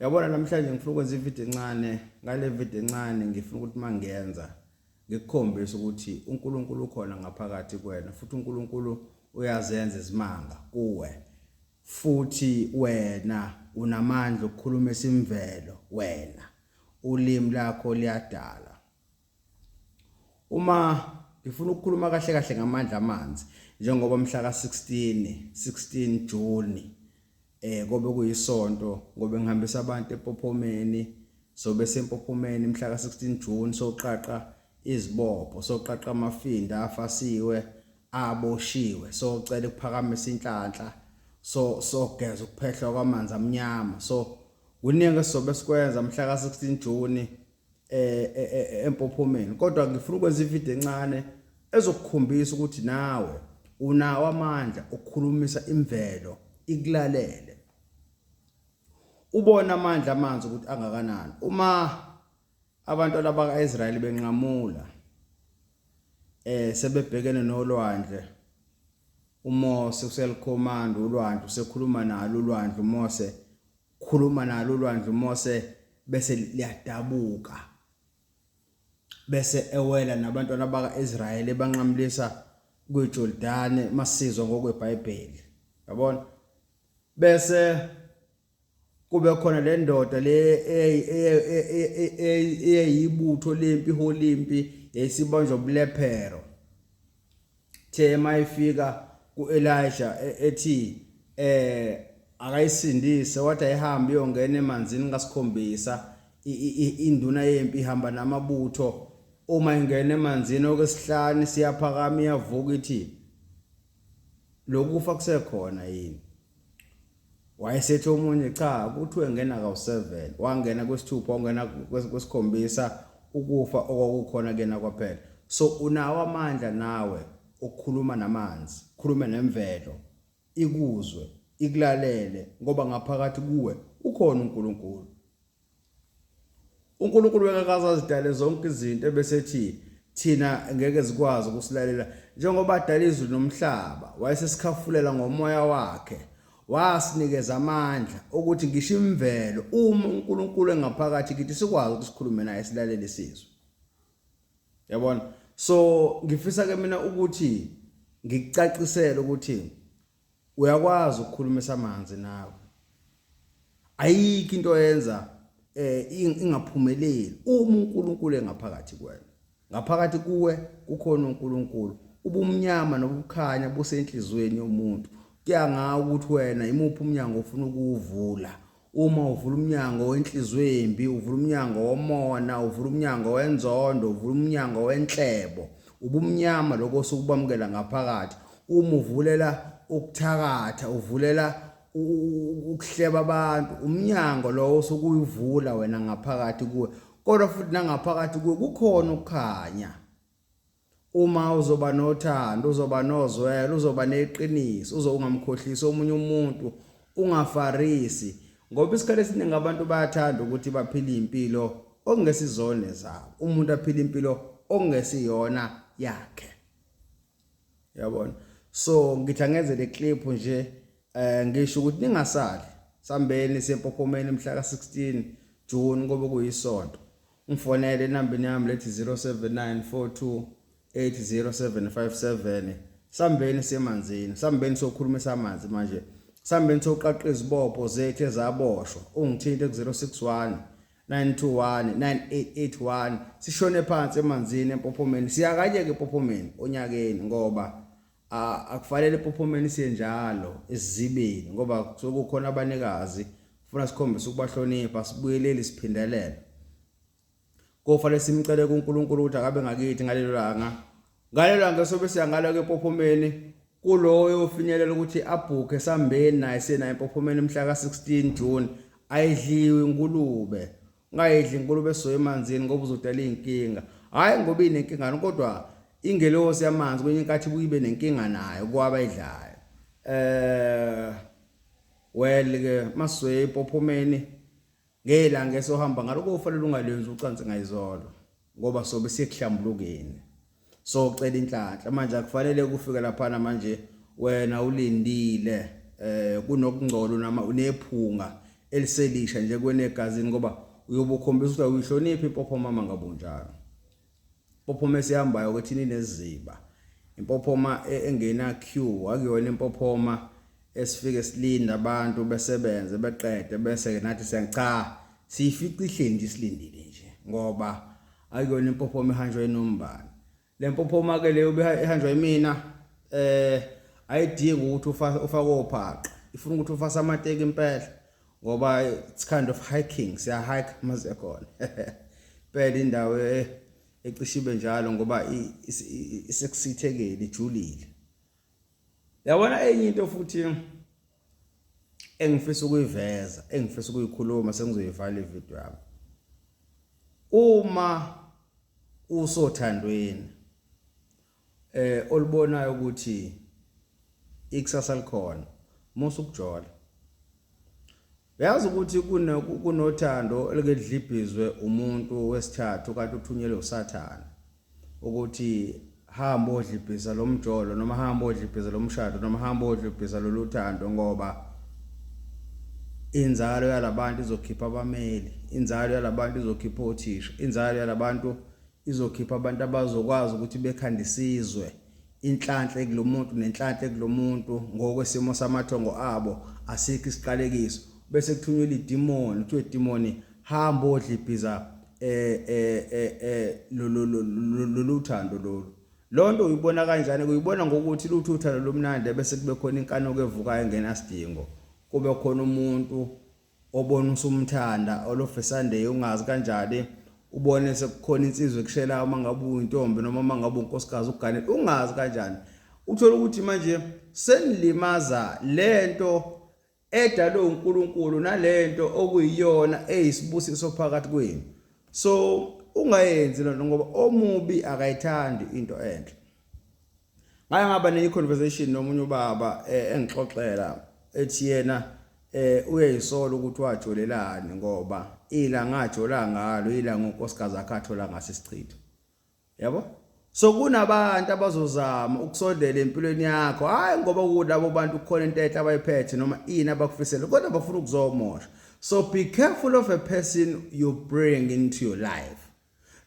yabona namhlanje ngifuna ukwenza ivideo encane ngale video encane ngifuna ukuthi mangenza ngikukhombisa ukuthi uNkulunkulu ukhona ngaphakathi kwena futhi uNkulunkulu uyazenza izimanga kuwe futhi wena unamandla okukhuluma esimvelo wena ulimi lakho liyadala Uma ngifuna ukukhuluma kahle kahle ngamandla amanzi njengoba mhla ka-16 16 June eh kobe kuyisonto ngobe ngihambisa abantu ePophomeni sobe seMpophomeni mhla ka-16 June soqaqa izibopho soqaqa amafinda afasiwe aboshiwe socela ukuphakamisa inhlanhla so sogeza ukuphehlwa kwamanzi amnyama so kuningi esizobe sikwenza mhla ka-16 June eh, eh, eh empophomeni kodwa ngifuna ukwenza ivideo encane ezokukhombisa ukuthi nawe unawo amandla okukhulumisa imvelo ikulalele ubona amandla amanzi ukuthi angakanani uma abantu abakaIsrael benqamula eh sebebhekene nolwandle uMose uselikhomanda ulwandle usekhuluma nalo ulwandle uMose Khuluma nalo ulwandle uMose bese liyadabuka. Bese ewela nabantwana bakaIsrayeli ebanqamulisa kwiJordane masizwa ngokweBhayibheli. Yabona? Bese kube khona le ndoda le eyayiyibutho lempi holimpi yayisibanjwa ubulephero Ithe uma ifika ku-Elisha e- ethi eh akayisindise wathi ayihambe iyongena emanzini kasikhombisa I- i- i- induna yempi ihamba namabutho uma ingena emanzini okwesihlanu siyaphakama iyavuka ithi lokufa kusekhona yini wayesethi omunye cha kuthiwe ngena kawu-7 wangena kwesithupha wangena kwesikhombisa ukufa okwakukhona kuyena kwaphela so unawo amandla nawe okukhuluma namanzi khulume nemvelo ikuzwe ikulalele ngoba ngaphakathi kuwe ukhona uNkulunkulu uNkulunkulu wekakaza azidale zonke izinto ebesethi thina ngeke zikwazi ukusilalela njengoba adala izulu nomhlaba wayesesikhafulela ngomoya wakhe wasinikeza amandla ukuthi ngisho imvelo uma uNkulunkulu engaphakathi kithi sikwazi ukusikhulume naye silalele isizwe yabona so ngifisa ke mina ukuthi ngikucacisele ukuthi Uyakwazi ukukhulumisa amanzi nawe. Ayikho into yenza eh ingaphumeleli uma uNkulunkulu engaphakathi kuwena. Ngaphakathi kuwe kukhona uNkulunkulu. Ubumnyama nobukhanya busenhlizweni yomuntu. Kuya ngawe ukuthi wena imuphi umnyango ofuna ukuwuvula. Uma uvula umnyango wenhliziyo embi, uvula umnyango womona, uvula umnyango wenzondo, uvula umnyango wenhlebo, ubumnyama lokho osukubamukela ngaphakathi. Uma uvulela ukuthakatha, uvulela ukuhleba abantu, umnyango lowo osukuyivula wena ngaphakathi kuwe. Kodwa futhi nangaphakathi kuwe kukhona ukukhanya. Uma uzoba nothando, uzoba nozwelo, uzoba neqiniso, uze ungamkhohlisi omunye umuntu, ungafarisi. Ngoba isikhathi esiningi abantu bayathanda ukuthi baphile impilo okungesizone zabo. Umuntu aphile impilo okungesiyona yakhe. Yabona? So ngithi angenze le clip nje eh ngisho ukuthi ningasali sambeni sempophomeni mhla ka 16 June ngoba kuyisonto. Ngifonele enambini yami lethi 0794280757. Sambeni semanzini, sambeni sokhulumisa amanzi manje. Sambeni soqaqa izibopho zethu ezaboshwa. Ungithinte ku-061 921 9881 sishone phansi emanzini empophomeni siyakanyeke empophomeni onyakeni ngoba akufanele ipophomeni siye njalo esizibeni ngoba kusuke kukhona abanikazi funa sikhombise ukubahlonipha sibuyeleli siphindelela kofanele simcele kuNkulunkulu ukuthi akabe ngakithi ngalelo langa ngalelo langa sobe siyangalo ke pophomeni kuloyo ofinyelela ukuthi abhukhe sambeni naye senaye pophomeni mhla ka 16 June ayidliwe inkulume ungayidli inkulumo esoya emanzini ngoba uzodala iy'nkinga hhayi ngoba inenkingani kodwa ingelosi yamanzi kwenye inkathi ibuye ibe nenkinga nayo kwabayidlayo um eh, well-ke maswe epophomeni ngelanga esohamba ngalo kofanele ungalenzi ucansi ngayizolo ngoba sobe siyekuhlambulukeni so cela inhlanhla manje akufanele kufike laphana manje wena ulindile eh kunokungcola nama unephunga eliselisha nje kwenegazini ngoba uyobukhombisa ukuthi uyihloniphi impopho mama ngabunjalo impophoma esihambayo ukuthi nineziba impophoma e, engena queue akuyona impophoma esifike silinda abantu besebenze beqede bese nathi siyacha siyifica ihleli nje silindile nje ngoba Ayikona impophoma ihanjwa inombani. Le mpophoma ke leyo ihanjwa imina eh ayidingi ukuthi ufake ufake ophaqa. Ifuna ukuthi ufase amateki impela ngoba it's kind of hiking siya hike maze khona. Phela indawo eh, ecishibe njalo ngoba isekusithekeli ijulile. Yabona enye into futhi engifisa ukuyiveza engifisa ukuyikhuluma sengizoyivala ivideo yami uma usothandweni eh olibonayo ukuthi ikusasa likhona musa ukujola uyazi ukuthi kunothando elikedlibhizwe umuntu wesithathu kanti uthunyelwe usathane ukuthi hamba odla ibhiza lomjolo noma hamba odla ibhiza lomshado noma hamba odla ibhiza loluthando ngoba inzalo yalabantu izokhipha abameli inzalo yalabantu izokhipha othisha inzalo yalabantu izokhipha abantu abazokwazi ukuthi bekhande isizwe inhlanhla kulomuntu nenhlanhla kulomuntu ngokwesimo samathongo abo asikho isiqalekiso bese kuthunyelwa idimoni kuthiwe idimoni hamba odla ibhiza eh eh eh eh lo lo lo lo- lo- lo uthando lolu lonto uyibona kanjani uyibona ngokuthi lutho uthando lomnandi bese kube khona inkanuko evukayo engenasidingo kube khona umuntu obona usumthanda olofesande ungazi kanjani ubone sekukhona insizwa ekushela uma ngabe uyintombi noma uma ngabe unkosikazi uganele ungazi kanjani uthola ukuthi manje senilimazaa lento edalwe uNkulunkulu nalento okuyiyona eyisibusiso phakathi kwenu so ungayenzi lento ngoba omubi akayithandi into enhle ngake ngaba ne conversation nomunye ubaba eh, engixoxela ethi yena eh uyayisola ukuthi wajolelani ngoba ila ngajola ngalo ila ngonkosikazi akhathola ngase sichitho yabo so kunabantu abazozama ukusondela empilweni yakho hayi ngoba kulabo bantu kukhona into enhle abayiphethe noma ini abakufisele kodwa bafuna ukuzomosha so be careful of a person you bring into your life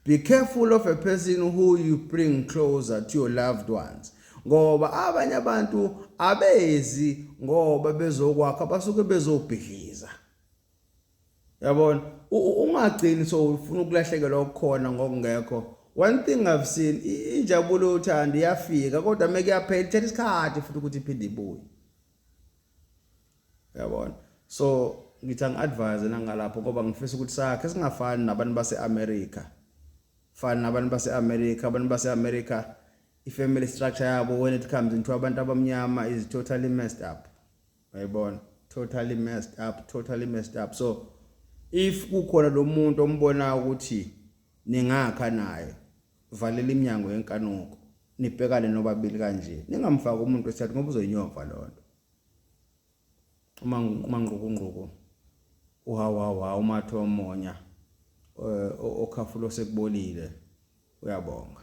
be careful of a person who you bring closer to your loved ones ngoba abanye abantu abezi ngoba bezokwakha basuke bezobhidliza yabona ungagcini so ufuna ukulahlekelwa okukhona ngokungekho one thing i've seen injabulo yothando iyafika kodwa uma kuyaphela ithatha isikhathi futhi ukuthi iphinde ibuye yabona so ngithi angi-advise nangalapho ngoba ngifisa ukuthi sakhe singafani nabantu base-amerika fani nabantu base-amerika abantu base-amerika i-family structure yabo when it comes into abantu abamnyama is totally messed up Uyayibona? Totally messed up, totally messed up. So if kukhona lo muntu ombona ukuthi ningakha naye valela iminyango yenkanuko nibhekane nobabili kanje ningamfaki umuntu wesithathu ngoba uzoyinyova loo nto uma uma ngqukungquku uhawawa umathe omonya eh, okhafulo sekubolile uyabonga